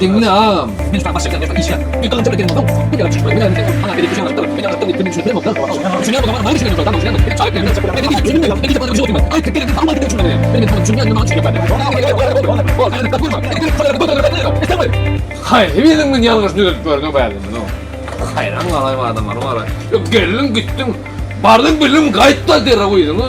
Diňle agam. Haýsy biriň men ýalňyş düzedip ýörüne bälinmez oň. Haýran galaýma adamlar bara. Geldiň gitdiň. Bardyň bildiň gaýt-da derrew öýüňe.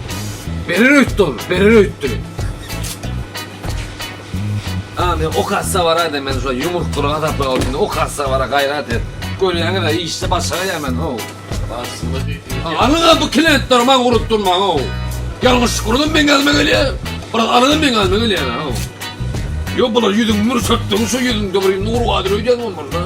Berer öýtdi ol, berer öýtdi. A, men o kassa baraýda, men şu ýumruk bir gazaply bolsun, o kassa bara gaýrat et. Görýäňiz, işde başga ýa men, ho. Alyň bu kilentleri maňa urup durmaň, ho. Ýalňyşlyk uradym, meň ýanyma gelýär. Biraz alyň, meň ýanyma gelýär, ho. Ýok, bular ýüzüňi mürşetdiň, şu ýüzüňde bir nur badyr öýdýän bolmaly.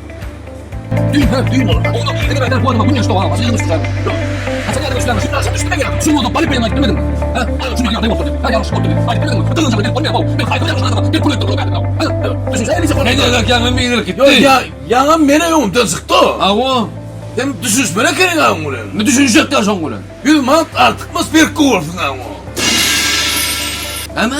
Ýaňam meni öňümden çykdy. Hawa. Sen düşünişmeli ekeniň aň bilen. Ne düşünişjekdä şoň bilen? Ýüz manat artykmaz berk gowursyň aň. Näme?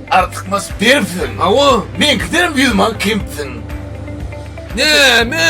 Artykmaç beripsiň awa meňkidenem ýüz man kempsiň. Näme?